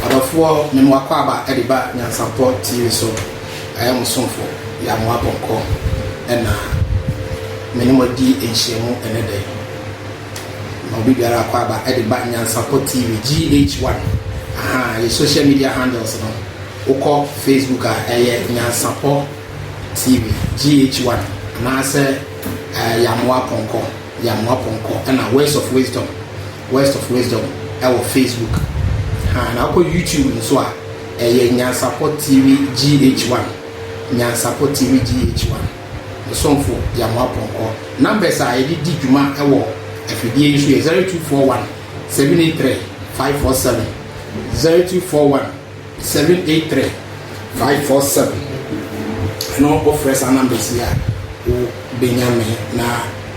Ɔdɔfoɔ me mo akwaaba de ba Nyansapɔ TV so ayɛ mo somfo Yamoah Bɔnkɔ na me ne mo adi nhyiamu ɛnɛ da yi. Ma obi biara akwaaba de ba Nyansapɔ TV GH1 ahaa yɛ social media handles no wokɔ Facebook a ɛyɛ Nyansapɔ TV GH1 anaasɛ uh, Yamoah Bɔnkɔ. yɛ amoa pɔnkɔ ɛna words of wisdom words of wisdom ɛwɔ facebook haa na wokɔ youtube nso a ɛyɛ nyansapɔ tv gh one nyansapɔ tv gh one mesomfo yɛ amoa pɔnkɔ numbers a yɛde di dwuma ɛwɔ afidie yi so yɛ zero two four one seven eight three five four seven zero two four one. Seven eight three five four seven ɛno wo frɛ saa numbers yi a wo bɛ nya me na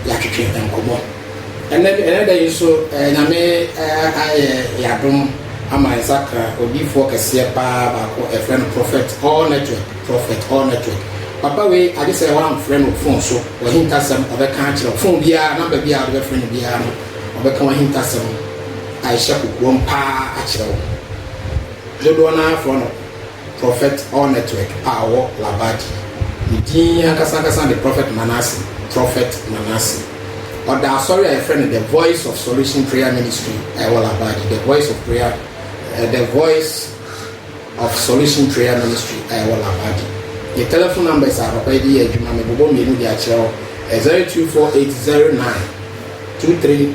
yɛatwetwe nkɔmɔ ɛnɛ ɛnɛ da yi nso eh, nyame eh, ayɛ yadom ama yɛn sakra odiifoɔ kɛseɛ paa baako ɛfrɛ no prophet all network prophet all network papa wei agye sɛ woamfrɛ no fon so wahintasɛm ɔbɛka akyerɛ fon biara namba biara wode bɛfrɛ no biara no ɔbɛka wahintasɛm a ɛhyɛ kokoam paa akyerɛ wo Dodoɔ no ara frɛ no Prophet All Network a ɔwɔ Labaji. Ne din ankasa ankasa de Prophet Manasseh, Prophet Manasseh. Ɔda asɔre a yɛfrɛ no The Voice of Solution Prayer Ministry a ɛwɔ Labaji, The Voice of Prayer, The Voice of Solution Prayer Ministry a ɛwɔ Labaji. Ne telephone numbers a papa yi de yɛ adwuma, mebobɔ mmienu de akyerɛ wo, ɛyɛ 0248 09 23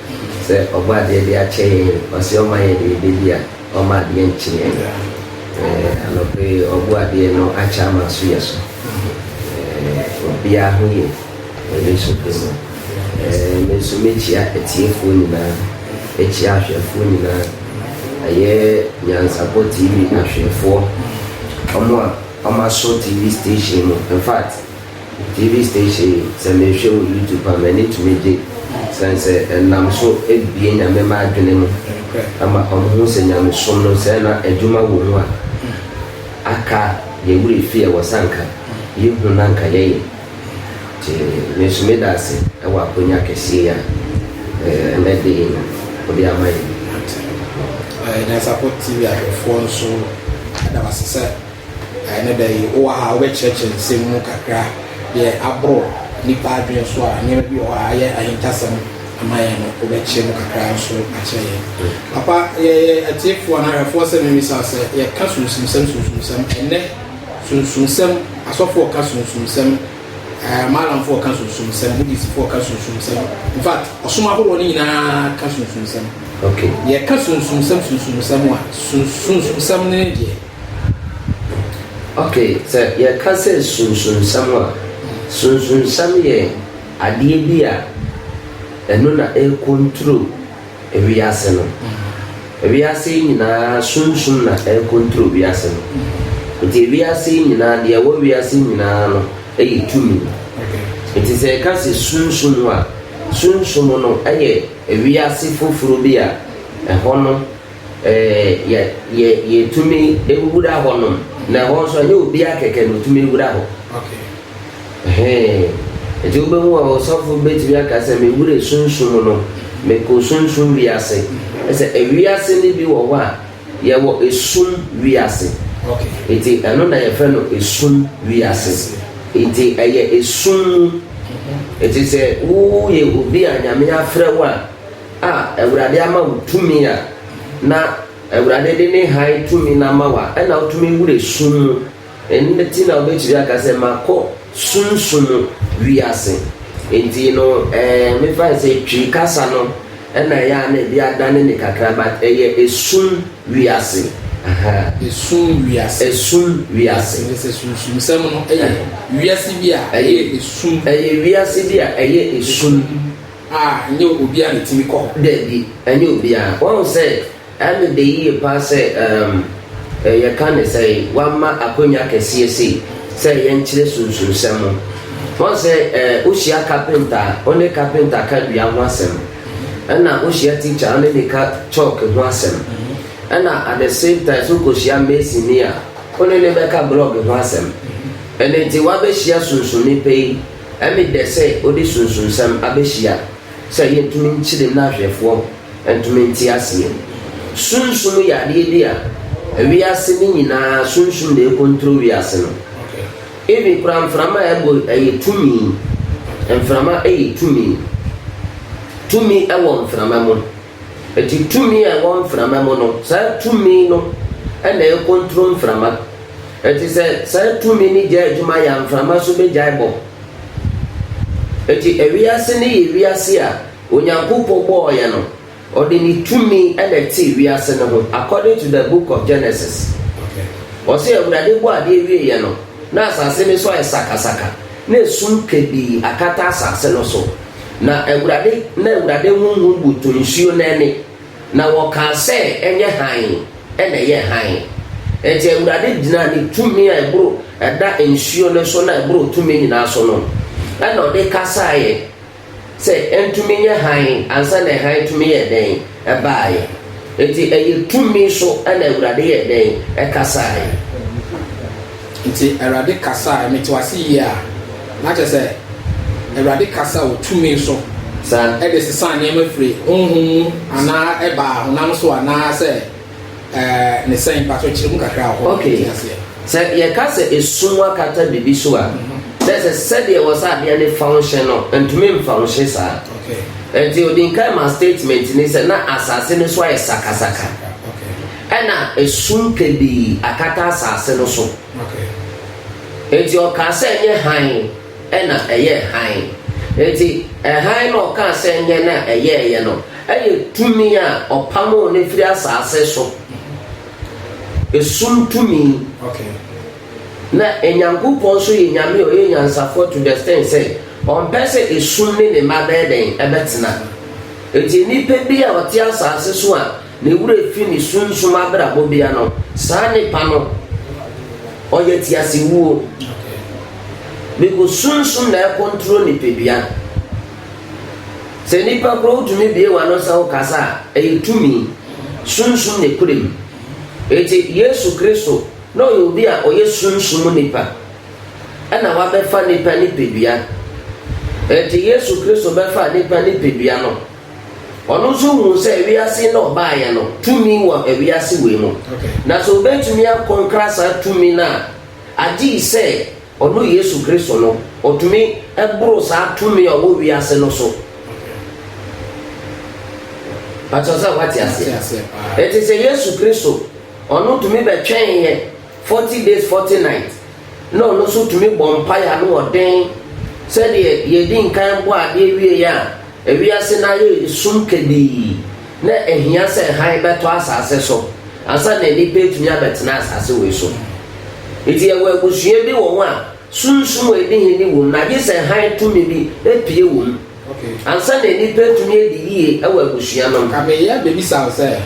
Sɛ ɔbɔ adeɛ de akyɛ yɛn, ɔse ɔma yɛn deɛ yɛbɛdi a, ɔmma adeɛ nkye yɛn. Eh, anɔpa yi ɔbo adeɛ no akyɛ ama aso yɛ so. Eh, obiara ho ye wɔ Yesu din mu. Eh, me nso mekyia atiefoɔ nyinaa, mekyia ahwɛfoɔ nyinaa, ɛyɛ Nyansapɔ TV ahwɛfoɔ, wɔn a wɔaso TV station mu, in fact, TV station yi sɛ mehwɛ wɔ YouTube a m'ani tumi gye sane sɛ ɛnam so bue Nyame mma adwene mu ma wɔn hu sɛ Nyamesom no sɛ na adwuma wɔ mu a aka yɛn werɛ fi ɛwɔ sɛ anka yɛ hu na anka yɛyɛ nti me nso meda ase ɛwɔ akonya kɛseɛ yi a ɛnɛ de yi no ɔde ama yɛn. Nyansapɔ TV ahwɛfoɔ nso ɛda wase sɛ Ɛnnɛ da yi, wowɔ ha a, wobɛkyerɛkyerɛ nsɛm mu kakra deɛ aboro nnipa adwene so a nneɛma bi wɔ hɔ a ayɛ ahintasɛm ama yɛn no, wobɛkyerɛ mu kakra nso akyerɛ yɛn. Papa, yɛyɛ atiefoɔ anaa ahwɛfoɔ sɛ memmisa wo sɛ, yɛka sunsumsɛm sunsumsɛm, ɛnnɛ sunsumsɛm, asɔfoɔ ka sunsumsɛm, ɛɛ maalamfoɔ ka sunsumsɛm, Buddhistfoɔ ka sunsumsɛm, in fact, ɔsom ahoroɔ no nyinaa ka sunsumsɛm. Okay. Yɛka sunsumsɛm sunsumsɛm a, sunsumsɛm no ne deɛ? Ok, sɛ yɛka sɛ sunsunsɛm a, sunsunsɛm yɛ adeɛ bi a ɛno na ɛrekontro wiase no. Wiase yi nyinaa sunsum na ɛrekontro wiase no. Nti wiase yi nyinaa, deɛ ɛwɔ wiase yi nyinaa no yɛ tumi. Nti sɛ yɛka sɛ sunsum a, sunsum no yɛ wiase foforɔ bi a ɛhɔ no Yɛ yɛ yɛtumi wura hɔnom na ɛhɔ nso ɛnyɛ obiara kɛkɛ na otumi wura hɔ hɛn nti wobɛhu a ɔsɔfo bɛtumi aka sɛ mewura sunsum no mekɔ sunsum wiase ɛsɛ ewiase no bi wɔ hɔ a yɛwɔ esum wiase nti ɛno na yɛfrɛ no esum wiase nti ɛyɛ esum mu nti sɛ woyɛ obi a nyame afrɛ wo a a Awurade ama wo tumi a, na Awurade de ne hann tumi no ama wo a, ɛna wotumi wura sum mu. Ɛno nti na wobɛtumi aka sɛ makɔ sunsum wiase. Nti no, ɛɛ mefa sɛ Twi kasa no ɛna ɛyɛ a na ebi adane ne kakra, but ɛyɛ esum wiase. Aha. Esum wiase. Esum wiase. Ɛyɛ sɛ sunsumsɛm no ɛyɛ wiase bi a ɛyɛ esum. Ɛyɛ wiase bi a ɛyɛ esum. A, ɛnyɛ obiara na etumi kɔ hɔ. Dabi, ɛnyɛ obiara. Woahu sɛ ɛno da yiye paa sɛ, um, eh, yɛka no sɛn, wɔama akonnwa kɛseɛ sei sɛ yɛnkyerɛ sunsunsɛm ho. Woahu sɛ, eh, wohyia kapenta a, wo ne kapenta ka dua ho asɛm. Ɛna wohyia tikya a, wo ne ne ka chalk ho asɛm. Ɛna at the same time nso wokohyia masonni a, wo ne ne bɛka blɔg ho asɛm. Ɛno nti, woabɛhyia sunsum nipa yi. Ɛme dɛ sɛ ode sunsunsɛm abehyia sɛ yentumi nkyere mu na ahwɛfoɔ ntumi nte aseɛ. Sunsum yɛ adeɛ bi a wiase no nyinaa sunsum na ɛkontro wiase no. Even koraa mframa a ɛbɔ yi ɛyɛ tumi. Mframa ɛyɛ tumi. Tumi ɛwɔ mframa mu. Enti tumi a ɛwɔ mframa mu no, saa tumi no na ɛkontro mframa. Enti sɛ saa tumi no gyae adwuma yɛ a, mframa nso begyae bɔ. Enti wiase no yɛ wiase a Onyankopɔn bɔɔ yɛ no, ɔde ne tumi na ɛtee wiase no ho according to the book of Genesis. Ɔse Awurade bɔɔ adeɛ wieeɛ no, na asase no nso ayɛ sakasaka. Na esum kabii akata asase no so, na Awurade na Awurade honhom butu nsuo no ani, na wɔkaa sɛ, Ɛnyɛ hann, ɛna ɛyɛɛ hann. Enti Awurade gyinaa ne tumi a ɛboro ɛda nsuo no so na ɛboro tumi nyinaa so no, ɛna ɔde kasaeɛ. Sɛ ɛntumi nyɛ hann ansa na hann tumi yɛɛ dɛn baeɛ? Enti ɛyɛ tumi so na Awurade yɛɛ dɛn kasaeɛ? Enti Awurade kasaeɛ, mete wo ase yie a, na kyerɛ sɛ Awurade kasa wɔ tumi so de sesaa nneɛma firii honhom mu anaa ɛbaa honam so anaa sɛ Ɛɛ, ne sɛn? Mpakyɛw kyerɛ mu kakra wɔ hɔ ma Okay. yɛnte aseɛ. Sɛ yɛka sɛ esum akata biribi so a, na ɛsɛ sɛ sɛdeɛ ɛwɔ sɛ adeɛ no fa wo hye no, ɛntumi mfa wo hye saa. Okay. Ɛnti ɔdi nkan maa statement no sɛ na asase no so ayɛ sakasaka, Okay. ɛna esum kabii akata asase no so. Okay. Ɛnti ɔkaa sɛ ɛnyɛ hann. na ɛyɛɛ hann. Enti, hann no a ɔkaa sɛ ɛnyɛ na ɛyɛeɛ no yɛ tumi a ɔpamoo no firii asase so, esum tumi. Na Nyankopɔn nso yɛ Nyame a ɔyɛ nyansafoɔ to the extent sɛ ɔmpɛ sɛ esum ne ne mma bɛyɛ dɛn? Ɛbɛtena. Enti nnipa bi a wɔte asase so a. Ne werɛ fi ne sunsum abrabɔ bea no, saa nipa no ɔyɛ tease wuo. Biko sunsum na ɛcontrol nipadua. Sɛ nipa kura wotumi bue wano sɛ wokasa a, ɛyɛ tumi. Sunsum na ɛkura mu. Eti Yesu Kristo na ɔyɛ obi a ɔyɛ sunsum nipa ɛna wabɛfa nipa nipadua. Eti Yesu Kristo bɛfaa nipa nipadua no. Ɔno nso huu sɛ wiase na ɔbaeɛ no tumi wɔ wiase wei mu. Na sɛ ɔbɛtumi akɔ nkra saa tumi no a, agye sɛ ɔno Yesu Kristo no, ɔtumi boro saa tumi a ɔwɔ wiase no so. Pakyɛw sɛ woate aseɛ? Ɛte sɛ Yesu Kristo, ɔno tumi bɛtwɛn yɛ. Forty Days Forty Nights na ɔno nso tumi bɔ mpae ano wɔ den sɛdeɛ deɛ ɛdi nkan bɔ adeɛ wieeɛ a ewiase no ayɛ sum kabii na ɛhia sɛ hann bɛtɔ asase so ansa na nnipa atumi abɛtena asase wei so. Nti yɛwɔ abusua bi wɔ hɔ a sunsum a ɛdi hene wɔ mu na gye sɛ hann tumi bi pue wɔ mu. Ansa na nnipa atumi adi yiye wɔ abusua no mu. Ka me yɛ bebisa wo sɛ,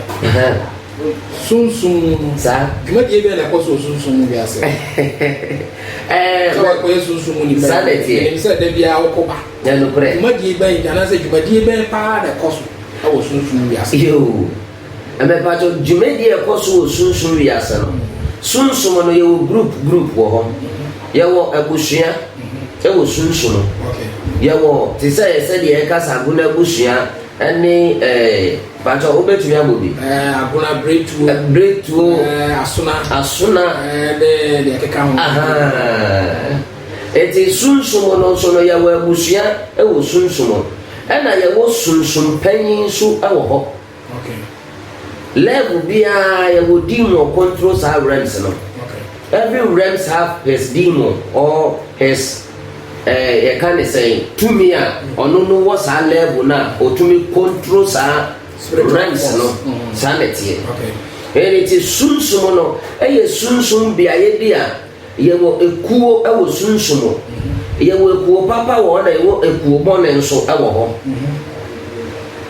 sunsum mu no, saa dwumadie bɛn na ɛkɔ so wɔ sunsum mu wiase? Ɛɛ, sɛ wɔkɔyɛ sunsum mu nipa, saa na ɛteɛ. Ɛnim sɛ da biara wokɔ ba. Ɛnukurɛ. Dwumadie bɛn anaasɛ dwumadie bɛn paa na ɛkɔ so wɔ sunsum mu wiase? Yoo. Mepatɔ dwumadie a ɛkɔ so wɔ sunsum wiase no sunsum no yɛwɔ group group wɔ hɔ yɛwɔ abusua ɛwɔ sunsum yɛwɔ te sɛ yɛ sɛ deɛ ɛka sɛ agona abusua ɛne ɛɛ patɔ wobɛtumi abɔ bi ɛɛ agona bretuo bretuo ɛɛ asona asona ɛɛ ne deɛ keka ho ahaa eti sunsum no nso no yɛwɔ abusua ɛwɔ sunsum ɛna yɛwɔ sunsum panyin nso ɛwɔ hɔ. Level biara yɛwɔ demon control saa realms no. Every realms have his demon or his eh, yɛka ne sɛn tumi a ɔno no wɔ saa level no a ɔtumi control saa realms no mm-hmm. saa na ɛteɛ. Ɛnti sunsum no ɛyɛ sunsum beaeɛ bi a Yɛwɔ ekuo wɔ sunsum mu. Yɛwɔ ekuo papa wɔ hɔ na yɛwɔ ekuo bɔne nso wɔ hɔ.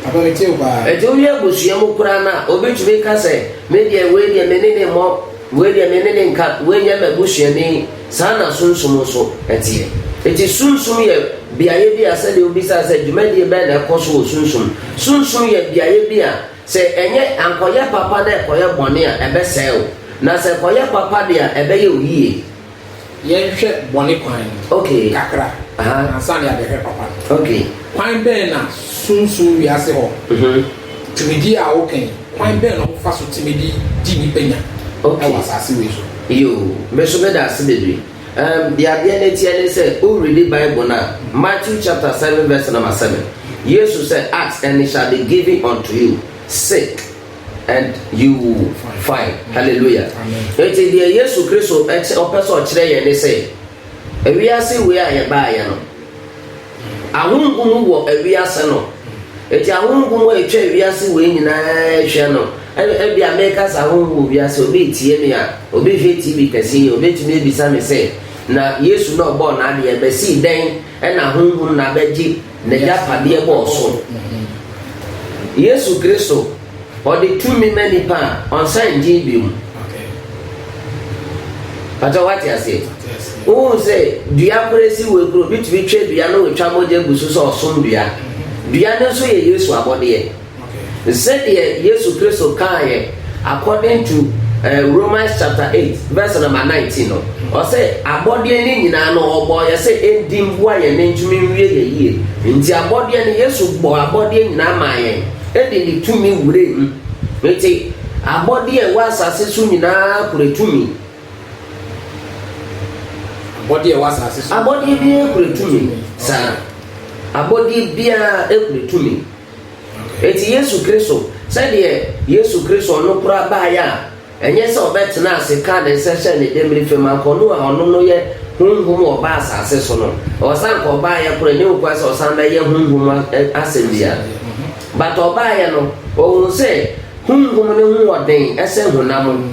Ɛti woyɛ abusua mu koraa no a, obi tumi ka sɛ, me deɛ wei deɛ me ne ne mmɔ, wei deɛ me ne ne nka, wei nyɛ m'abusuani. Saa na sunsum nso teɛ. Ɛti sunsum yɛ beaeɛ bi a sɛdeɛ wobisaa sɛ dwumadie bɛn na ɛkɔ so wɔ sunsum. Sunsum yɛ beaeɛ bi a Sɛ ɛnyɛ, ankɔyɛ papa na ɛkɔyɛ bɔne a, ɛbɛsɛe wo, na sɛ ɛkɔyɛ papa de a, ɛbɛyɛ wo yie. Yɛnhwɛ bɔne kwan Okay. kakra Aha. ansa na yɛabɛhwɛ papa no. Okay. Kwan bɛn na sunsum wiase hɔ tumidi a woka yi, kwan bɛn na wɔfa so tumi de di nnipa nya wɔ Okay. asase wei so? Yoo, me nso meda ase bebree. Erm, deɛ adeɛ no teɛ ne sɛ, wo readi Bible no a, Matthew chapter seven verse number seven, Yesu sɛ, Ask and it shall be given unto you, seek and you will find. Hallelujah. Enti deɛ Yesu Kristo ɔpɛ sɛ ɔkyerɛ yɛn ne sɛ, ewiase wei a yɛbaeɛ no, Ahonhom wɔ wiase no, enti ahonhom a atwa wiase wei nyinaa rehwɛ no, ɛna ebia meka sɛ ahonhom wɔ wiase, obi retie me a, obi rehwɛ TV kɛseɛ yi a, obetumi abisa me sɛ, Na Yesu na ɔbɔɔ n'adeɛ, ɛbɛsii dɛn na ahonhom na abɛgye n'agyapadeɛ bɔɔ so? Yesu Kristo. Ɔde tumi ma nipa a ɔnsan ngye bio mu. Pàtó wate aseɛ? Wohu sɛ dua koro esi wɔ ekuro bi tumi twɛ dua no wotwa mogya gu so sɛ ɔsom dua. Dua no nso yɛ Yesu abɔdeɛ. Sɛdeɛ Yesu Kristo kaayɛ according to eh, Romans chapter eight verse number nineteen no, ɔsɛ abɔdeɛ ne nyinaa no ɔbɔ yɛ sɛ ɛndi mboa yɛn ne ntumi nwie yɛ yie. Nti abɔdeɛ no Yesu bɔ abɔdeɛ nyinaa maa yɛn. de ne tumi wuraa mu. Enti, abɔde a ɛwɔ asase so nyinaa kura tumi. Abɔde a ɛwɔ asase so. Abɔde biara kura tumi. Saa. Abɔde biara kura tumi. Enti Yesu Kristo, sɛdeɛ Yesu Kristo no kora baeɛ a. Ɛnyɛ sɛ ɔbɛtenaa ase kaa ne nsa hyɛɛ ne demmire fam anka ɔno a ɔno no yɛ Honhom a ɔbaa asase so no. Ɛwɔ sɛ anka ɔbaeɛ koro, ɛnyɛ hokuaa sɛ ɔsan bɛyɛ Honhom mu asɛm biara. But ɔbaeɛ no, ɔhuu sɛ Honhom no ho wɔ den sɛ honam.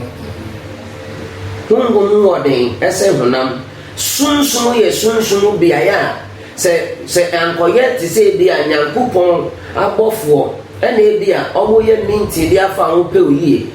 Honhom ho wɔ den sɛ honam. Sunsum yɛ sunsum beaeɛ a sɛ, sɛ anka ɔyɛ te sɛ ebia Nyankopɔn abɔfoɔ na ebia wɔyɛ meeting bi afa ho pɛw yie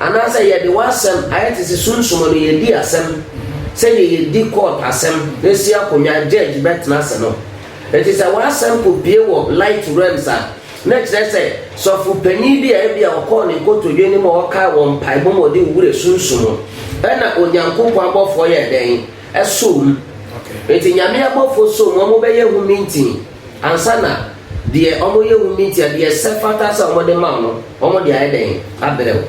Anaasɛ yɛde w'asɛm ayɛ te sɛ sunsuma no yɛdi asɛm sɛdeɛ yɛdi court asɛm na si akonnwa a judge bɛtena ase no. Enti sɛ w'asɛm kɔpue wɔ light realms a, na ɛkyerɛ sɛ sɔfo panin bi a ebia ɔkɔɔ ne nkotodwe no mu a ɔkaa wɔ mpaebɔ mu a ɔde wo werɛ sunsum wo. Ɛna Onyankopɔn abɔfoɔ yɛɛ dɛn? Ɛsoo mu. Enti Nyame abɔfoɔ soo mu, wɔbɛyɛ ho meeting. Ansa na deɛ wɔyɛ wo meetia, deɛ ɛsɛ fata sɛ wɔde ma wo no, wɔde ayɛ dɛn abrɛ wo?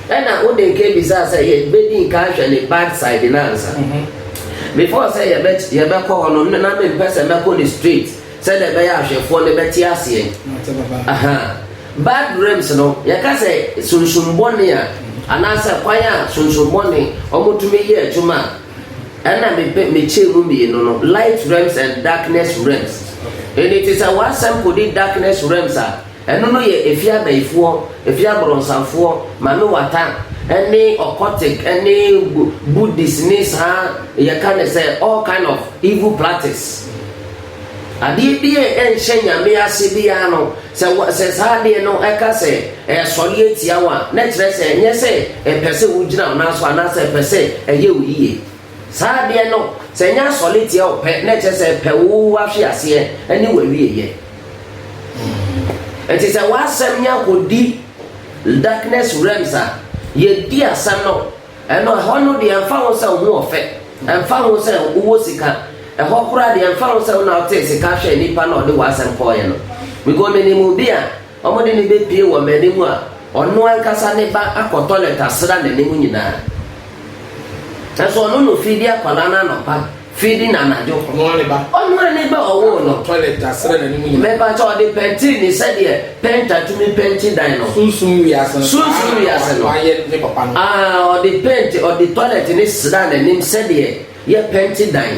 Ɛna wode nka bisaa sɛ yɛbɛdi nka ahwɛ ne bad side no ansa. Before sɛ yɛbɛkɔ hɔ no, na mempɛ sɛ mɛkɔ no straight sɛdeɛ ɛbɛyɛ ahwɛfoɔ no bɛte aseɛ. Ahaa. Bad dreams no, yɛka sɛ sunsum bɔne a, anaasɛ kwan a sunsum bɔne wɔtumi yɛ adwuma a, Ɛna mepɛ mekyɛɛ mu mmienu no, light realms and darkness realms. Ɛnni te sɛ w'asɛm kɔdi darkness realms a, ɛno no yɛ ɛfiri abayifoɔ, ɛfiri abrɔnsanfoɔ, Mame Wata, ɛne occultic, ɛne Buddhist ne saa yɛka no sɛ all kind of evil practice. Adeɛ bi a ɛnhyɛ Nyame ase biara no, sɛ wɔ, sɛ saa adeɛ no ɛka sɛ ɛresɔre atia wo a, na ɛkyerɛ sɛ ɛnyɛ sɛ ɛpɛ sɛ wogyina wo nan so anaasɛ ɛpɛ sɛ ɛyɛ wo yie. Saa adeɛ no, sɛ ɛnyɛ asɔre tia wo pɛ, na ɛkyerɛ sɛ ɛpɛ wo ahweaseɛ ne w'awieeɛ. Nti sɛ w'asɛm nya kɔdi darkness realms a, yɛdi asɛm no Ɛno ɛhɔ no deɛ ɛmfa ho sɛ wo ho ɔfɛ, ɛmfa ho sɛ wowɔ sika, ɛhɔ koraa deɛ ɛmfa ho sɛ wo na wotee sika hwɛɛ nipa na ɔde w'asɛm kɔeɛ no. Because menim obi a wɔde no bɛpue wɔ m'anim a, ɔno ankasa ne ba akɔ toilet asra n'anim nyinaa. Nanso ɔno na ɔfiri de akwadaa no anɔpa. Feeding anadwo. Ɔno ara ne ba. Ɔno ara ne ba ɔwoo no. Toilet asrɛ n'anim nyinaa. Mepatɔ ɔde pɛntiri ne sɛdeɛ pɛnta tumi pɛnti dan no. Sunsum wiase no. Sunsum wiase no. Wayɛ ne papa no. Ah, ɔde pɛnti, ɔde toilet ne sra n'anim sɛdeɛ yɛ pɛnti dan.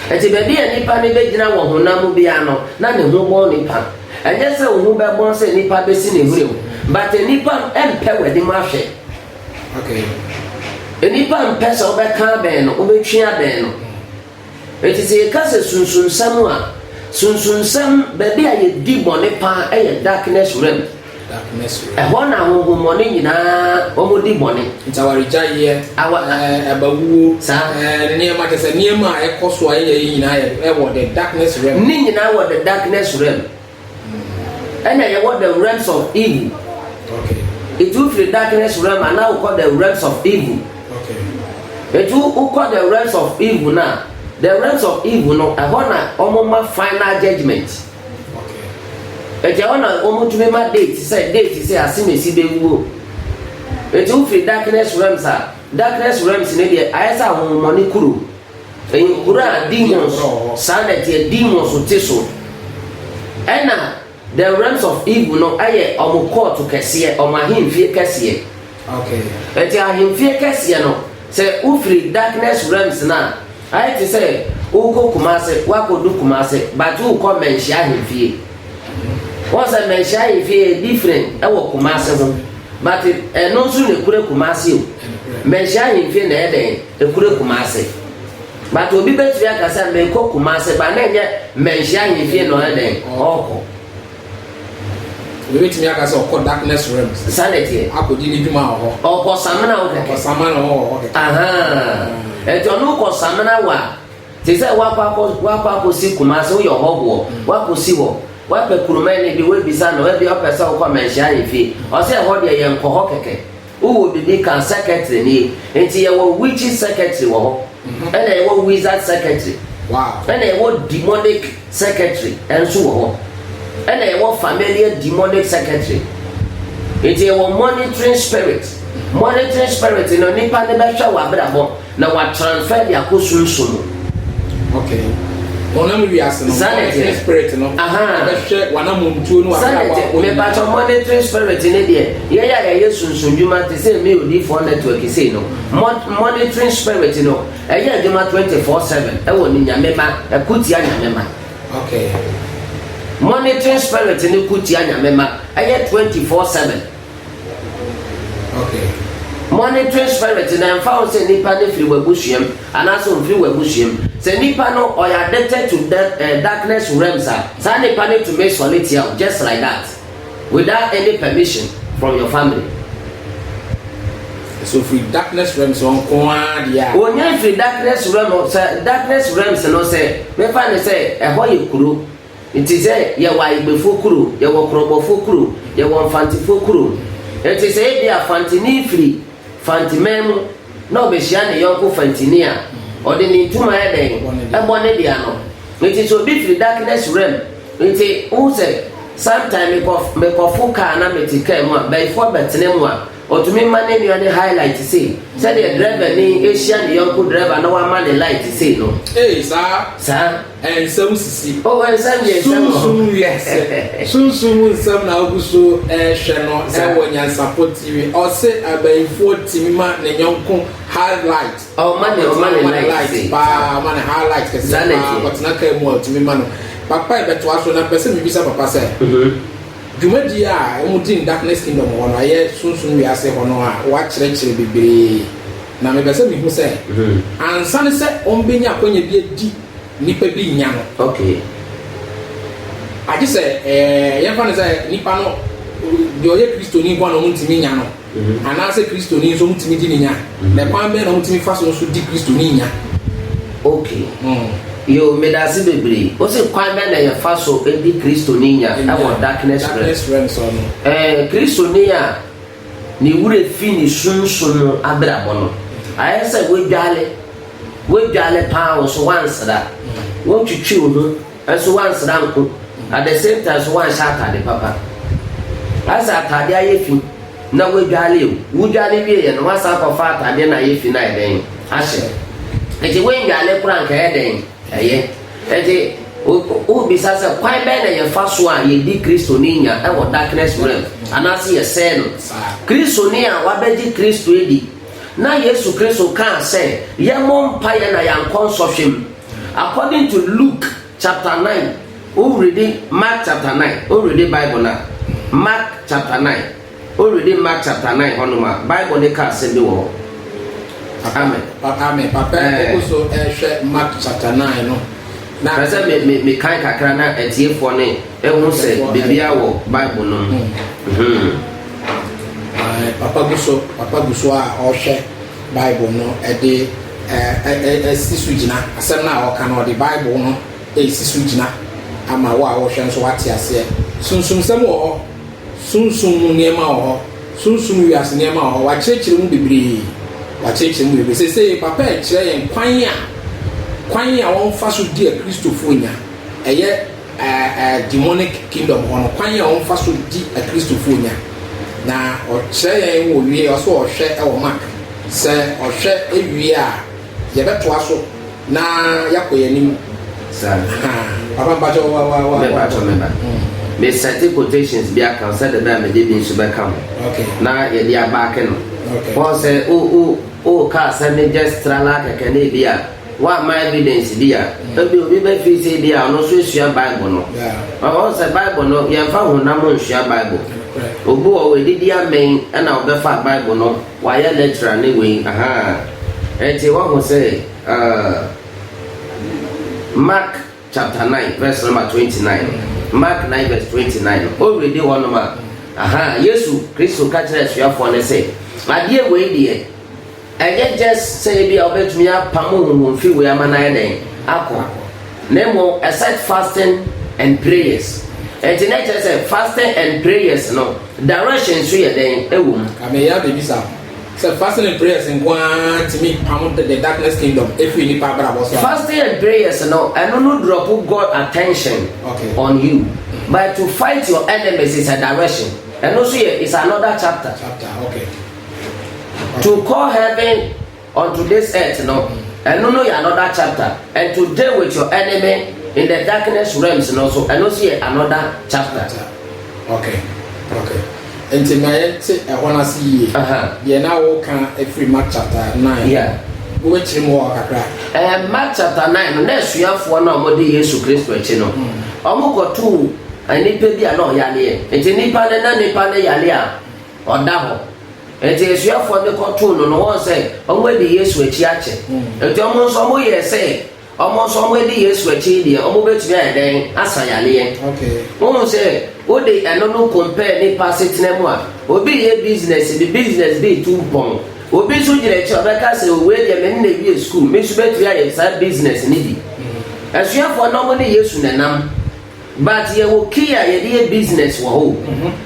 Ɛti baabi a nipa ne bɛgyina wɔ honam mu biara no, na ne ho bɔn nipa. Ɛnyɛ sɛ wo ho bɛbɔn sɛ nipa bɛsi ne hwene mu, but nipa mpɛ w'anim ahwɛ. Okay. Nnipa mpɛ sɛ wobɛka abɛn no, wobɛtwe abɛn no. Enti sɛ yɛka sɛ sunsunsɛm a, sunsunsɛm baabi a yɛdi bɔne paa yɛ darkness realm. Darkness realm. Ɛhɔ na honhommɔne nyinaa wɔdi bɔne. Nti awaregyaeɛ, eh, abawuo, eh, nneɛma kyɛ sɛ nneɛma a ɛkɔ so a ɛyɛ nyinaa ɛwɔ the darkness realm. Ne nyinaa wɔ the darkness realm. Ɛna yɛwɔ the realms of evil. Etu wofiri darkness realm a na wokɔ the realms of evil. Etu wokɔ the realms of evil na the realms of evil no ɛhɔ na wɔn ma final judgement. Eti ɛhɔ na wɔn tumi ma date sɛ date sɛ asemesi bɛ wuo. Etu wofiri darkness realms a darkness realms ne deɛ ayɛ sɛ ahonhommɔne kuro. Ɛyɛ nkuro a demons, saa na ɛteɛ, demons te so. Ɛna the realms of evil no ɛyɛ wɔn kɔɔto kɛseɛ, wɔn ahemfie kɛseɛ. Okay. Ɛti ahemfie kɛseɛ no, sɛ wofiri darkness realms no a, ayɛ te sɛ wokɔ Kumase, wakɔdu Kumase, but wokɔ Manhyia ahemfie. Wɔn sɛ mɛnhyia yɛ fie yɛ different ɛwɔ Kumasi ho but ɛno nso na ekure Kumasi o mɛnhyia yɛ fie na ɛyɛ dɛn ekure Kumasi but obi bɛtumi aka sɛ mɛkɔ Kumasi ba na ɛnyɛ mɛnhyia yɛ fie na ɔyɛ dɛn ɔkɔ. Obi bɛtumi aka sɛ ɔkɔ darkness realm. Sanity. Akɔdi ne dwuma wɔ hɔ. Ɔkɔ samina wɔ kɛkɛ. Ɔkɔ samina wɔ hɔ kɛkɛ. Ɛtɔ no kɔ samina wɔ a. Te sɛ woakɔ akɔ, woakɔ akɔsi Kumasi, woyɛ ɔhɔhoɔ, woakɔsi hɔ, woapɛ Kurumani bi, woabisa no, ebia wopɛ sɛ wokɔ Manhyia Ahemfie, ɔse ɛhɔ deɛ yɛnkɔ hɔ kɛkɛ. Wowɔ biribi ka, secretary nie. Nti yɛwɔ witches secretary wɔ hɔ, ɛna yɛwɔ wizard secretary, ɛna yɛwɔ demonic secretary nso wɔ hɔ, ɛna yɛwɔ familiar demonic secretary. Nti yɛwɔ monitoring spirit. Monitoring spirit no, nipa no bɛhwɛ w'abrabɔ. Na wɔatransfer de akɔ sunsum mu. Okay. Honam wiase no, monitoring spirit no, ɛbɛhwɛ w'anamɔntuo no w'abrabɔ akɔ. Mepatɔ monitoring spirit no deɛ, yɛyɛ a yɛyɛ sunsun dwuma te sɛ me odiifoɔ network sei no, monitoring spirit no, ɛyɛ adwuma 24/7 ɛwɔ ne nyame ma, ɛko tia nyame ma. Okay. Monitoring spirit no ko tia nyame ma, ɛyɛ 24/7. Okay. Monitoring spirit na ɛmfa ho sɛ nipa no firi w'abusuam anaasɛ ɔmfiri w'abusuam. Sɛ nipa no ɔyɛ addicted to da, uh, eh, darkness realms a, saa nipa no tumi sɔle tia o, just like that, without any permission from your family. So firi darkness realms wɔn ko ara deɛ a. Wɔnyɛ firi darkness realm sɛ darkness realms no sɛ mefa ne sɛ ɛhɔ yɛ kuro. Ntsi sɛ yɛwɔ Ayigbefo kuro, yɛwɔ Krɔbɔfo kuro, yɛwɔ Mfantsefo kuro. Ntsi sɛ ebia Fantsenyi firi Fantseman mu na ɔbehyia ne yɔnko Fantsenyi a, ɔde ne ntum ayɛ dɛn? Bɔ ne de ano. Ntsi sɛ obi firi Darkness Realm, ntsi wohu sɛ sometime mekɔ mekɔfo kaa na metse kaa mu a, bayifoɔ bɛtsena mu a, ɔtumi ma ne nua no high light sei, sɛdeɛ drɛvanyi hyia ne yɔnko drɛva na wama no light sei no. Ee, saa. Saa. Ɛnsɛ wo sisi. O ɛnsɛm deɛ ɛnsɛm wɔ hɔ. Sunsum wiase. Sunsum mu nsɛm na wogu so rehwɛ no wɔ Nyansapɔ TV. Ɔse abayifoɔ tumi ma ne nyɔnko high light. Ɔma ne ɔma ne light paa. Ɔma ne high light kɛseɛ paa. Ɔtena car mu a ɔtumi ma no. Papa yɛbɛtoa so na mpɛ sɛ mebisa papa sɛ dwumadie a wɔdi no darkness kingdom hɔ no ɛyɛ sunsum wiase hɔ no a wɔakyerɛkyerɛ bebree. Na mepɛ sɛ mihu sɛ, ansa ne sɛ ombenya akwannya bi adi nipa bi nya no, agye sɛ yɛmfa no sɛ nipa no, deɛ ɔyɛ Kristoni nko ara na wɔtumi nya no, anaasɛ Kristoni nso wɔtumi gye no nya, na kwan bɛn na wɔtumi fa so nso gye Kristoni nya? Ok. Yoo, meda ase bebree. Wose kwan bɛn na yɛfa so gye Kristoni nya wɔ darkness realm so no? Ɛɛ, Kristoni a. Ne werɛ fi ne sunsum mu abirabɔ no. Ayɛ sɛ woadwale, woadwale paa wo so woansra, wotwitwi wo ho nso woansra nko, at the same time nso woanhyɛ atade papa. Ayɛ sɛ atade ayɛ fi na woadwale o, wodwale wieeɛ no woasan akɔfa atade na ayɛ fi no ayɛ dɛn ahyɛ? Enti woandwale koraa anka ɛyɛ dɛn? Ɛyɛ. Enti, wo, wobisa sɛ, kwan bɛn na yɛfa so a yedi Kristoni nya wɔ darkness realm, anaasɛ yɛsɛe no? Kristoni a wabɛgye Kristo adi, na Yesu Kristo kaa sɛ yɛmmɔ mpaeɛ na yɛankɔ nsɔhwɛ mu. According to Luke chapter 9, woredi Mark chapter 9, woredi Bible no a, Mark chapter 9, Woredi Mark chapter nine hɔnom a, Bible no ka asɛm bi wɔ hɔ. Papa, Amen. pa, amen. Papa Ɛɛ. kɔ so hwɛ Mark chapter nine no, na. Pɛ sɛ me, me, mekan kakra na atiefoɔ no ɛhu sɛ Atiefoɔ, biribiara wɔ Bible no mu. Mhm. Ae, papa gu so, papa gu so a ɔrehwɛ Bible no de ɛ, ɛ, ɛ, asi so gyina. Asɛm no a ɔreka no, ɔde Bible no resi so gyina ama wo a worehwɛ nso woate aseɛ. Sunsumsɛm wɔ hɔ. Sunsum mu nneɛma wɔ hɔ, sunsum wiase nneɛma wɔ hɔ, wɔakyerɛkyerɛ mu bebree, wɔakyerɛkyerɛ mu bebree. Seesei Papa rekyerɛ yɛn kwan a, kwan a wɔfa so di a Kristofo nya, ɛyɛ ɛɛ ɛɛ demonic kingdom hɔ no, kwan a wɔfa so di a Kristofo nya. Na ɔkyerɛ yɛn wɔ wie, ɔsɛ ɔhwɛ wɔ Mark, sɛ ɔhwɛ wie a, Yɛbɛtoa so na yɛakɔ yɛn anim. Papa mpakyɛw wa wa wa. Mpakyɛw me ba. Me sɛte quotations bi aka sɛ de bɛ a mede bi nso bɛka ho. Na yɛde abaake no. Wɔn sɛ o o o ka asɛm ne just trala kɛkɛ ne ebi a wɔama evidence bi a ebi obi bɛfi sɛ ebi a ɔno nso esua Bible no. Wɔn sɛ Bible no yɛmfa honam nsua Bible. Obi wɔ hɔ edidi amɛn ɛna ɔbɛfa Bible no. Wayɛ natural ne wei ahaa. Ɛnti wahu sɛ uh Mark chapter nine verse number twenty nine no Mark nine verse twenty nine no o readi hɔ nom a ahaa Yesu Kristo ka kyerɛ asuafoɔ no sɛ adeɛ wei deɛ ɛnyɛ just sɛ ebi a wobɛtumi apam honhom fi wei ama no ayɛ dɛn akɔ na mmom except fasting and prayers ɛnti na ɛkyerɛ sɛ fasting and prayers no Direction nso yɛ dɛn wɔ mu? Afei yɛ a mebisa wo sɛ fasting and prayers nko ara tumi pam the darkness kingdom firi nnipa abrabɔ so a? Fasting and prayers no, ɛno no drop God attention okay. on you. Mm-hmm. But to fight your enemies is a direction. Ɛno nso yɛ is another chapter. Chapter, okay. okay. To call heaven On today's earth no, ɛno no yɛ another chapter and to deal with your enemy in the darkness realms no nso ɛno nso yɛ another chapter. Okay, okay. Nti ma yɛn te ɛhɔ no ase yie. Deɛ na wɔka afiri Mark chapter nine. Yeah. Wobɛkyerɛ mu hɔ kakra. Ɛɛ eh, Mark chapter nine no na asuafoɔ no a wɔde Yesu Kristo akyi no, hmm. wɔn kɔtu eh, nipa bi a na ɔyareɛ. Nti nipa no na nipa no yare a ɔda hɔ. Enti asuafoɔ de kɔtoo no no wɔn sɛ wɔn adi Yesu akyi akyɛ. Enti wɔn nso wɔn yɛɛ sɛ wɔn nso wɔn adi Yesu akyi deɛ wɔn bɛtumi ayɛ dɛn asa yareɛ. Wohu sɛ wo de ɛno no compare nipa asetena mu a, obi reyɛ business bi, business bi retu mpɔn. Obi nso gyina akyire ɔbɛka sɛ o wei deɛ me ne na awie school, me nso bɛtumi ayɛ saa business no bi. Asuafoɔ no wɔne Yesu na ɛnam. But yɛwɔ key a yɛde yɛ business wɔ hɔ o.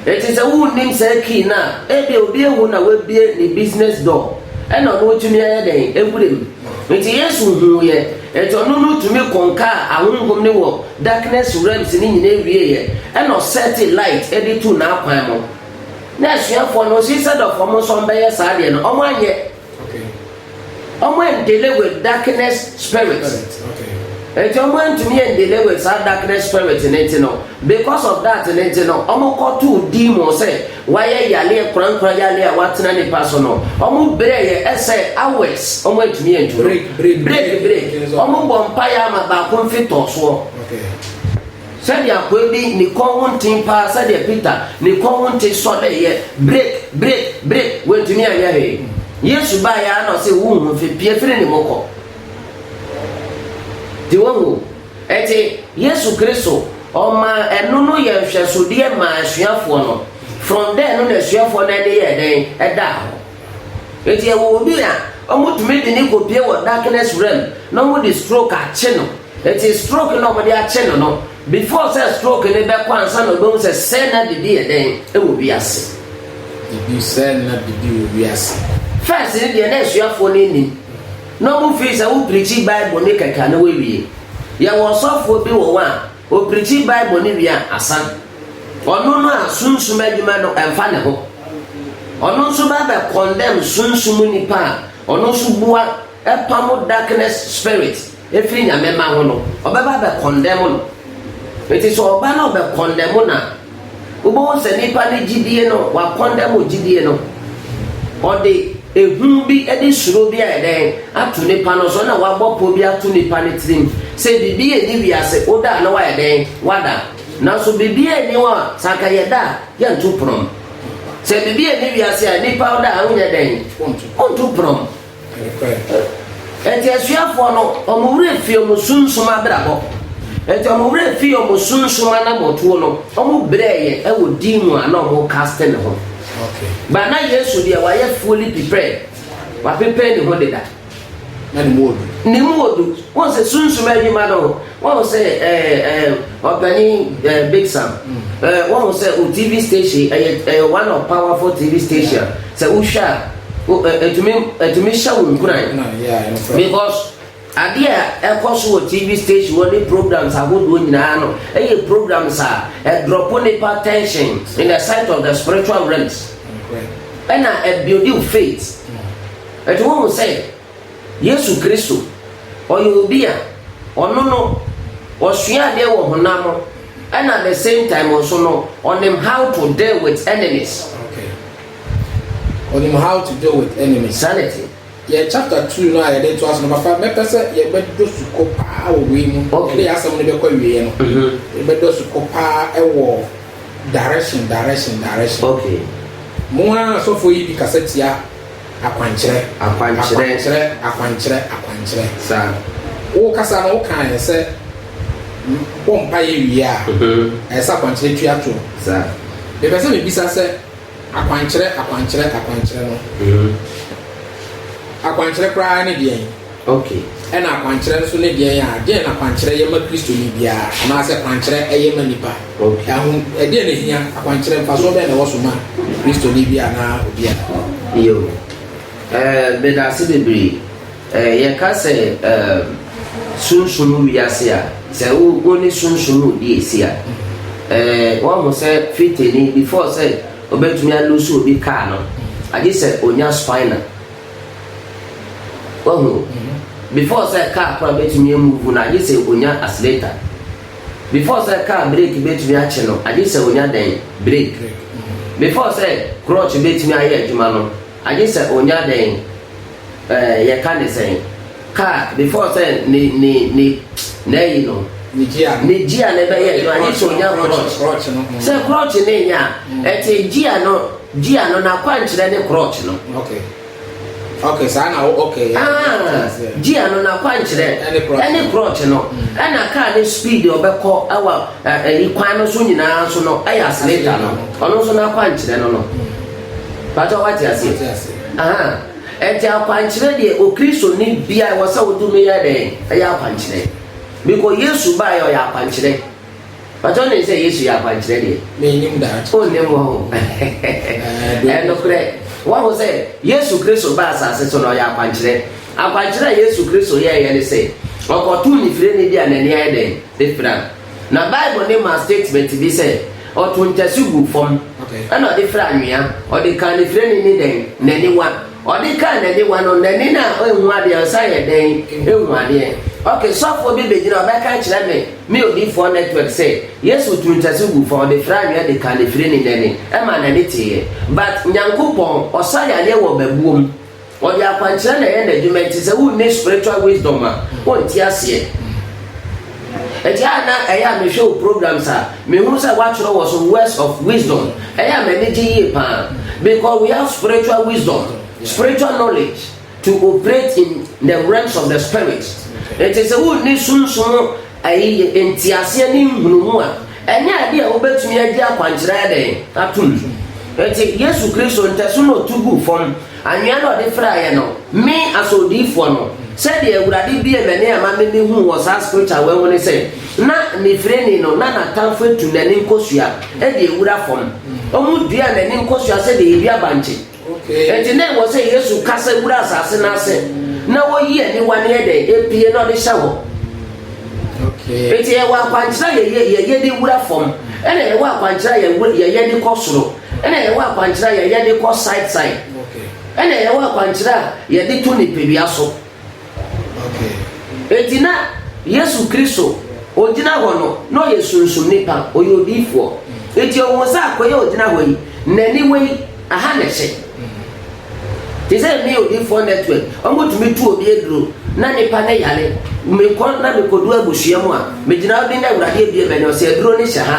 Enti sɛ wonnim saa key no a, ebia obi ahu na wabue ne business door ɛna ɔno atumi ayɛ dɛn? Awura mu. Enti Yesu huuiɛ, enti ɔno no tumi konkaa ahonhom no wɔ darkness realms no nyinaa wieeɛ ɛna ɔsɛte light de tuu n'akwan mu. Na asuafoɔ no, she said of wɔn nso wɔbɛyɛ saa deɛ no, wɔanyɛ. Ɔmo ɛndele with darkness spirit. Nti ɔmo ɛntumi ɛndele with saa darkness spirit ne nti no because of that ne nti no ɔmo kɔ too demon sɛ wayɛ yaleɛ korankora yaleɛ a watena nipa so no ɔmo brɛ yɛ ɛsɛ hours ɔmo ɛntumi ɛntu no break break ɔmo bɔ mpaeɛ ama baako mfi tɔɔsoɔ. Sɛdeɛ akoa bi ne kɔn ho nten paa sɛdeɛ Peter ne kɔn ho nte sɔreeɛ brik brik brik wantumi anyɛ hwee. Yesu baeɛ ara na ɔse wo nhu hwee pue firi ne mu kɔ. Nti wohu o, ɛnti Yesu Kristo ɔmaa ɛno no yɛ nhwɛsodeɛ maa asuafoɔ no, from there no na asuafoɔ no ani yɛɛ dɛn? Ɛdaa hɔ. Nti yɛwɔ obi a wɔtumi de no kɔpue wɔ darkness realm na wɔde stroke akye no. Enti stroke na wɔde akyɛ no no, before sɛ stroke no bɛkɔ ansa na ɔbɛhu sɛ sɛɛ na bibi yɛ dɛn wɔ wiase. Bibi, sɛɛ na bibi wɔ wiase. First no deɛ na asuafoɔ no nnim, na wɔn feel sɛ wo preachi Bible no kɛkɛ a na wawie. Yɛwɔ ɔsɔfoɔ bi wɔ hɔ a, ɔpreachi Bible no wie a, asan. Ɔno no a sunsum adwuma no ɛmfa ne ho. Ɔno nso ba bɛ condemn sunsum nipa a ɔno nso bua. ɛpam darkness spirit ɛfiri Nyame mma ho no, ɔbɛba abɛ condemn no. Nti sɛ ɔba na ɔbɛ condemn no a, wobɛhu sɛ nipa no gyidie no, wa condemn gyidie no. Ɔde ehu bi de suro bi ayɛ dɛn ato nipa no so na wabɔ pɔ bi ato nipa no tirim sɛ biribi ɛni wiase, woda a na wayɛ dɛn? Wada. Nanso biribi ɛni hɔ a, sɛ anka yɛda a, yɛnto prɔm. Sɛ biribi ɛni wiase a, nipa woda a wonyɛ dɛn? Wonto prɔm. Enti asuafoɔ no, wɔn werɛ fii wɔn sunsum abrabɔ. Enti wɔn werɛ fii wɔn sunsum anammɔntuo no, wɔbrɛeɛ wɔ din mu a na wɔkaste ne ho. Ba na Yesu deɛ wayɛ fully prepared, wapepair ne ho deda. Na ne mu ɔdu. Ne mu ɔdu. Wɔn sɛ sunsum adwuma no. Wahu sɛ ɛɛ ɛɛ ɔpanin ɛɛ Big Sam ɛɛ wahu sɛ o TV station ɛyɛ ɛyɛ one of powerful TV station sɛ wohwɛ a o ɛ ɛtumi ɛtumi hyɛ wo nkuran because adeɛ a ɛkɔ so wɔ TV station wɔ ne programs ahodoɔ nyinaa no ɛyɛ programs a ɛdrɔpo nipa tension in the sight of the spiritual realms ɛna ɛbuildi faith ɛti wohu sɛ. Yesu Kristo, ɔyɛ obi a, ɔno no, ɔsua adeɛ wɔ honam mu ɛna at the same time nso no, ɔnim how to deal with enemies. Okay. Ɔnim how to deal with enemies. Saa na ɛte. Yɛ chapter two no a yɛde to aso no, papa, mɛpɛ sɛ yɛbɛdɔ sukɔ paa wɔ wei mu. Okay. Yɛde yɛ asɛm no bɛkɔ awieɛ no. Mhm. Yɛbɛdɔ sukɔ paa ɛwɔ direction, direction, direction. Okay. Mo ara asɔfoɔ yi bi kasa tia Akwankyerɛ. Akwankyerɛ. Akwankyerɛ, akwankyerɛ, akwankyerɛ. Saa. Wo kasa no, wo kaeɛ sɛ bɔ mpaeɛ wie a, ɛyɛ sɛ akwankyerɛ tua toɔ. Saa. Mepɛ sɛ mebisa sɛ akwankyerɛ, akwankyerɛ, akwankyerɛ no, akwankyerɛ koraa ne deɛn? Ok, ɛna akwankyerɛ nso ne deɛn a? Deɛn na kwankyerɛ yɛ ma Kristoni biara, anaasɛ kwankyerɛ ɛyɛ ma nipa? Ok, ahom, ɛdeɛn na ɛhia? Akwankyerɛ, mfasoɔ bɛn na ɛwɔ so ma Kristoni biara anaa obiara? Yo, eh, medaase bebree. Eh, yɛka sɛ, eh, sunsum wiase a, sɛ wo, wo ne sunsum redi asi a, eh, woahu sɛ fitani, before sɛ obɛtumi a-lose obi car no, agye sɛ onya spinal. Wahu? Before sɛ kaa kora bɛtumi amuvu no, agye sɛ onya accelerator. Before sɛ kaa brake bɛtumi akye no, agye sɛ onya dɛn? Brake. Before sɛ clutch bɛtumi ayɛ adwuma no, agye sɛ onya dɛn? Ɛɛ, yɛka ne sɛn? Car before sɛ ne ne ne n'ayi no. Ne gia. Ne gia ne bɛyɛ adwuma ne sɛ onya crotch. Crotch no. Mm. Sɛ crotch ne nya a, mm. ɛte gia no gia no n'akwankyerɛ ne crotch no. Okay. Okay, saa na wo okay. Ah, gia no n'akwankyerɛ ɛne crotch no mm. ɛna car ne speed ɔbɛkɔ ɛwɔ ɛyi eh, kwan no so nyinaa so no ɛyɛ accelerator no ɔno nso n'akwankyerɛ no no. Pàtó wá ti àsè. Wá ti àsè. Ɛnti akwankyerɛ deɛ okristoni biaa ɛwɔ sɛ wotumi yɛ dɛn ɛyɛ akwankyerɛ. Biko Yesu baeɛ ɔyɛ akwankyerɛ. Pakyɛ wonim sɛ Yesu yɛ akwankyerɛ deɛ? Mennim daa. Wonnim hɔ ho. Ɛyɛ nokorɛ. Wahu sɛ Yesu Kristo baa asase so no ɔyɛ akwankyerɛ. Akwankyerɛ a Yesu Kristo yɛeɛ ne sɛ ɔkɔtoo ne firani bi a n'ani ayɛ dɛn? Ne fira. Na Bible no ma statement bi sɛ, Ɔtoo ntasu guu fam, ɛnna ɔde firaa anwea, ɔde kaa ne firani ne dɛn? N'aniwa. Ɔde kaa n'aniwa no, n'ani no a enhu adeɛ no san yɛɛ dɛn? Ehu adeɛ. Ok, sɔfoɔ bi bɛgyina, ɔbɛka akyerɛ me ne Odiyifoɔ Network sɛ, Yesu tuu ntasu guu fam, ɔde firaa anwea de kaa ne firani n'ani, ɛmaa n'ani teeɛ. But, Nyankopɔn, ɔsa yadeɛ wɔ babuo mu. Ɔde akwankyerɛ na ɛyɛ n'adwuma nti sɛ wonni spiritual wisdom a wonte aseɛ. Ɛti a na ɛyɛ a mehwɛ wo programs a mehunu sɛ woatwerɛ wɔ so words of wisdom ɛyɛ a m'ani gye yie paa because we have spiritual wisdom, spiritual knowledge to operate in the realms of the spirit. Nti sɛ wonni sunsum ayi nteaseɛ ne nhunumu a ɛnyɛ adeɛ a wobɛtumi agye akwankyerɛ ɛdɛn atom. Nti Yesu Kristo ntɛso na ɔtu guu fam. Anwea na ɔde fraeɛ no, me asɔɔdiifoɔ no, sɛdeɛ Awurade bue m'ani ama me me hu wɔ saa scripture wei ho ne sɛ, na Nifireni no na n'atamfo atu n'ani nkosua de awura fam. Wɔn dua n'ani nkosua sɛdeɛ yɛdua bankye. Enti na ɛwɔ sɛ Yesu kasa wura asase no ase na ɔyi aniwa no yɛ dɛ, epie na ɔde hyɛ hɔ. Enti yɛwɔ akwankyerɛ a yɛyɛ de wura fam, ɛna yɛwɔ akwankyerɛ a yɛyɛ de kɔ soro. Ɛna yɛwɔ akwankyerɛ a yɛyɛ de kɔ site site. Ɛna yɛwɔ akwankyerɛ a yɛde to nipadua so. Enti na Yesu Kristo ogyina hɔ no, na ɔyɛ sunsum nipa, ɔyɛ odiyifoɔ. Enti ɔhuu sɛ akoa yi a ɔgyina hɔ yi, n'aniwa yi, aha na ɛhyɛ. Te sɛ me odiyifoɔ network, wɔtumi tu obi aduro na nipa ne yare. Mekɔ na mekɔdu abusua mu a, megyina hɔ bi na Awurade abue m'ani, ɔsɛ aduro no hyɛ ha.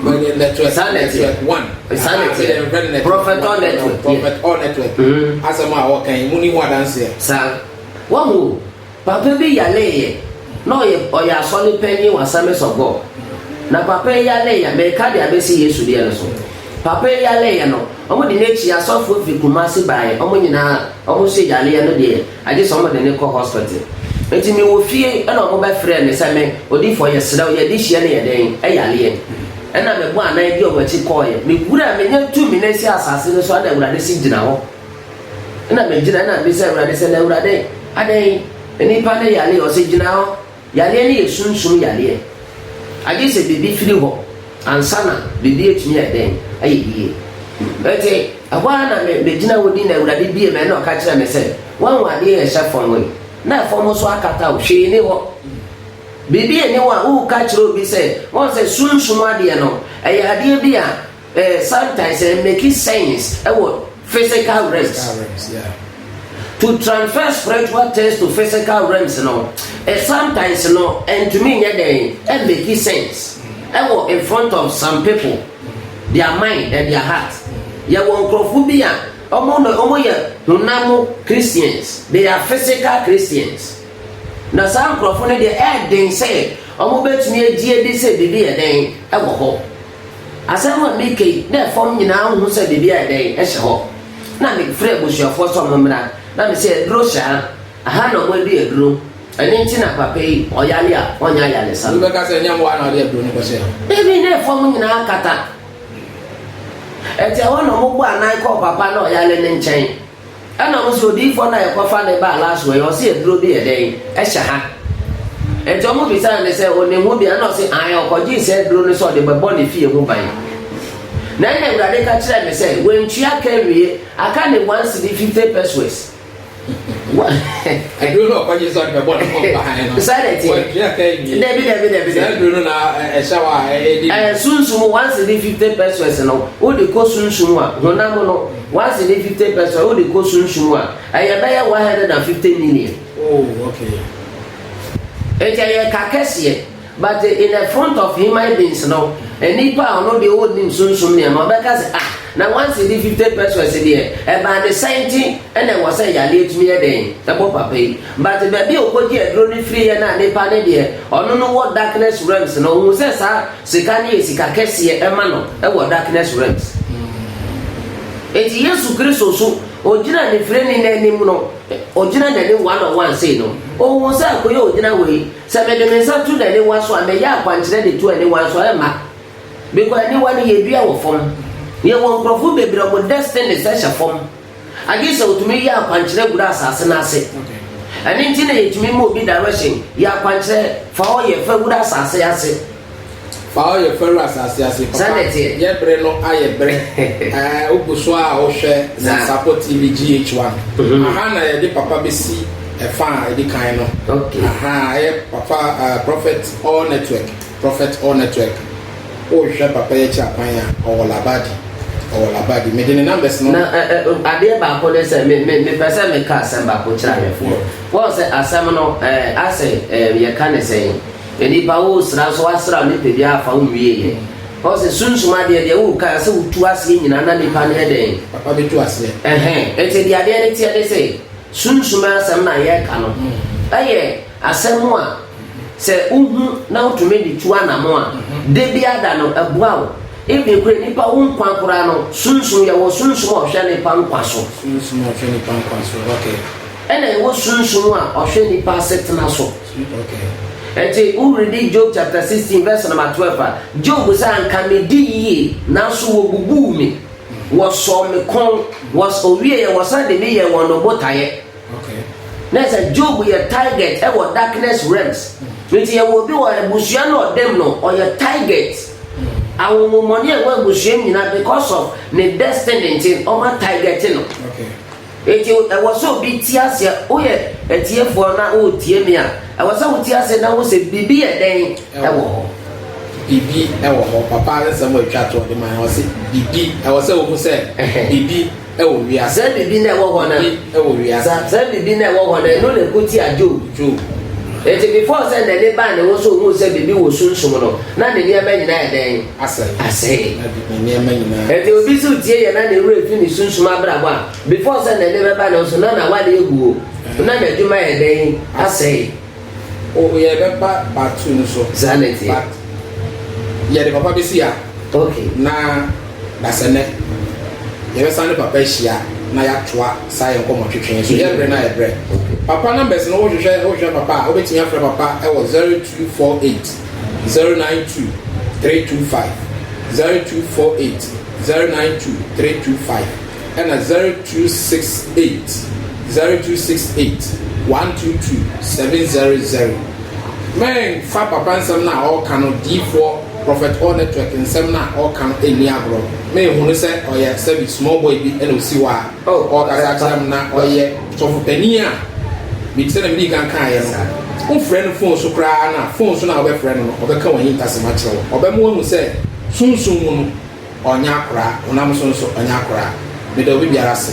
Network, saa network one. Saa network. Ɛdɛ mfrɛ no network. Prophet or network. Prophet or network. Mm-hmm. Asɛm a wɔka yi, mu ni ho adanseɛ. Saa. Wɔn o, papa bi yale yɛ, na ɔyɛ ɔyɛ asɔre panyin wɔ Assemblies of God. Na papa yi yale yɛ, mɛka de abɛsi Yesu deɛ no so. Papa yi yale yɛ no, wɔn de n'akyi asɔfo fi Kumasi baeɛ, wɔn nyinaa wɔn so yale yɛ no deɛ Agye sɛ wɔde no kɔ hospital. Enti me wɔ fie na wɔn bɛ frɛɛ me sɛ me odifoɔ yɛ serɛ wo yɛ adehyeɛ ne yɛ dɛn ɛyareɛ. Ɛna me bɔ anan di wɔn akyi kɔɔeɛ. Me wura me nya tumi na ɛsi asase no so ɛna Awurade se gyina hɔ. Ɛna me gyina ɛna me bisa Awurade sɛ na Awurade adɛn nnipa no yareɛ ɔse gyina hɔ. Yareɛ no yɛ sunsum yareɛ, agye sɛ biribi firi hɔ ansa na biribi atumi ayɛ dɛn? Ayɛ yie. Ɛnti, ɛhɔ ara na me, megyina hɔ din na Awurade bue m'ani na ɔka kyerɛɛ me sɛ, Woahu adeɛ a ɛhyɛ fam hɔ yi? Na fam hɔ so akata wo, hwee nni hɔ. Biribi nni hɔ a woreka kyerɛ obi sɛ, woahu sɛ sunsum adeɛ no, ɛyɛ adeɛ bi a Eh sometimes eh make sense ɛwɔ physical realms. Physical realms yeah. To transfer spiritual things to physical realms no eh sometimes no ɛntumi nyɛ dɛn eh make sense ɛwɔ in front of some people their mind and their heart. Yɛwɔ nkurɔfo bi a wɔn na wɔn yɛ honam Christians they are physical Christians na saa nkurɔfo no deɛ ɛɛden sɛ wɔbɛtumi agye adi sɛ biribi yɛ dɛn wɔ hɔ Asɛm a mereka yi, na fam nyinaa hu sɛ biribi ayɛ dɛn, hyɛ hɔ. Na mefrɛɛ abusuafoɔ sɛ wɔmmra, na me sɛ aduro hyɛ ha, aha na wɔadi aduro, ɛno nti na papa yi, ɔyare a, ɔnyɛ ayaresa no. Obi bɛka sɛ ɛnyɛ mmoa na ɔde aduro no kɔhyɛɛ hɔ. Dabi, na fam nyinaa akata. Ɛti ɛhɔ na wɔbɔɔ anan kɔɔ papa na ɔyare no nkyɛn. Ɛna ɔmo se odiyifoɔ no a yɛkɔfa no baa last wɔ yi ɔse aduro bi yɛ dɛn ɛhyɛ ha nti ɔmo bisaa no sɛ onim ho bi ɛna ɔse ae ɔkɔgyee saa aduro no sɛ ɔde bɛbɔ ne fie ho ban na ɛna awurade ka kyerɛɛ me sɛ wantua ka awie aka ne one cedi fifty pesos aduro no ɔkɔgye sɛ ɔde bɛbɔ ne ho ban no saa na ɛteɛ wantua ka awie dabi dabi dabi saa aduro no na ɛhyɛ hɔ a ɛdi sunsum one cedi fifty pesos no wode kɔ sunsum a honam no Once ne fifty percent wode kɔ sunsum mu a, ɛyɛ bɛyɛ one hundred and fifty million. Oh, okay. Nti ɛyɛ ka kɛseɛ, but in the front of human beings no, nipa a ɔno deɛ ɔnnim sunsum nneɛma ɔbɛka sɛ ah, na once ne fifty percent deɛ ɛbaa ne sɛn nti ɛna ɛwɔ sɛ yale atumi yɛ dɛn ɛbɔ papa yi. But baabi a ɔkɔgye aduro no firi yɛ no a nipa ne deɛ ɔno no wɔ darkness realms no, ɔhu sɛ saa Sika no yɛ sika kɛseɛ ma no wɔ darkness realms. Enti Yesu Kristo nso, ɔgyina ne firani no anim no, ɔgyina n'anim one on one sei no, ɔhuu sɛ akoyɛ ɔgyina hɔ yi, sɛ mede me nsa to n'aniwa so a, mɛyɛ akwankyerɛ de to aniwa nso a, ɛmma. Because aniwa no yɛdua wɔ fam. Yɛwɔ nkurɔfoɔ bebree a wɔn destinies hyɛ fam. Agye sɛ otumi yɛ akwankyerɛ gura asase no ase. Ɛno nti na yɛtumi ma obi direction, yɛ akwankyerɛ, fa hɔ yɛ fɛ wura asase ase. Fa hɔ yɛ fɛ wura asase ase. Papa, yɛ bere no ayɛ bere. Ɛɛ, wogu so a wohwɛ Nyansapɔ TV GH1. Mhm. Aha na yɛde papa bɛsi ɛfa a ɛdi kan no. Okay. Aha, ɛyɛ papa, uh, Prophet All Network. Prophet All Network wo hwɛ papa yi akyi akwan a ɔwɔ Labadi ɔwɔ Labadi mede ne numbers no. Na ɛ ɛ adeɛ baako ne sɛ me me mepɛ sɛ meka asɛm baako kyerɛ ahwɛfoɔ wɔn sɛ asɛm no ɛ asɛ ɛ yɛka ne sɛn nipa wo sra nso wasra nipadua afa wo nwie yɛ wɔn sɛ sunsum adeɛ deɛ wo ka sɛ wotu aseɛ nyinaa na nipa no yɛ dɛn. Papa bɛtu aseɛ. Ɛhɛn ɛti deɛ adeɛ ne teɛ ne sɛ sunsum asɛm na yɛka no ɛyɛ. Asɛm a sɛ wuhu na wutumi de tu anammɔn a, da biara da no ɛboa wo. Ebia kura nipa wo nkwa koraa no sunsum, yɛwɔ sunsum a ɔhwɛ nipa nkwa so. Sunsum a ɔhwɛ nipa nkwa so, okay ɛna ɛwɔ sunsum a ɔhwɛ nipa asetena so ɛnti woredi job chapter sixteen verse number twelve a job sɛ anka me di yie nanso wɔbubuu me wɔsɔɔ me kɔn wɔs owieɛ wɔsan de me yɛ wɔn botaeɛ na sɛ job yɛ target wɔ darkness realms nti yɛwɔ obi wɔ abusua no ɔdam no ɔyɛ target ahonhommɔne a ɛwɔ abusua mu nyinaa because of ne destiny nti ɔma target no nti ɛwɔ sɛ obi ti aseɛ woyɛ atiefoɔ na woretie me a ɛwɔ sɛ wotie aseɛ na wo sɛ biribi yɛ dɛn ɛwɔ hɔ biribi ɛwɔ hɔ papa nsɛm a atwa to ɔde ma ɛwɔ sɛ biribi ɛwɔ sɛ wɔhu sɛ biribi wɔ wiadze. Dza biribi na ɛwɔ hɔ no wɔ wiadze. Dza biribi na ɛwɔ hɔ no, eno na ekotsia Job toom. Ntsi before sɛ n'ani baa no ho sɛ ohun sɛ biribi wɔ sunsum no, na ne nneɛma nyina ayɛ dɛn? Asɛɛ. Ntsi obi so tsie yɛ na ne werɛ efi ne sunsum abrabɔ a, before sɛ n'ani bɛba no ho so, na n'awar ewu o, na n'edwuma ayɛ dɛn? Asɛɛ. O o yɛ bɛ ba part two no so. Saa na ɛteɛ. But yɛ de papa bɛ si ha. Okay. Na dasɛnɛ yɛ bɛ san de papa ahyia na yɛ atoa saa yɛ nkɔmɔ twetwe yɛ so yɛ brɛ na yɛ brɛ. Okay. Papa numbers no wohwehwɛ wohwehwɛ papa a wobɛtumi afrɛ papa ɛwɔ zero two four eight zero nine two three two five zero two four eight zero nine two three two five. Ɛna zero two six eight zero two six eight one two two seven zero zero mɛnfa papa nsɛm no a ɔɔka no diifoɔ prɔfɛt ɔɔ nɛtwɛk nsɛm no a ɔɔka no nni agorɔ mehunu sɛ ɔyɛ sɛbi smɔl bɔy bi ɛna ɔsi hɔ a ɔɔkasa akyerɛ me na ɔyɛ sɔfo panin a me sɛnea medii kan kaeɛ no wofrɛ no fon so koraa no a fon so no a wobɛfrɛ no no ɔbɛka wahintasɛm akyerɛ wo ɔbɛma wahu sɛ sunsum mu no Ɔnyɛ akoraa, honam so nso ɔnyɛ akoraa. Meda obi biara ase.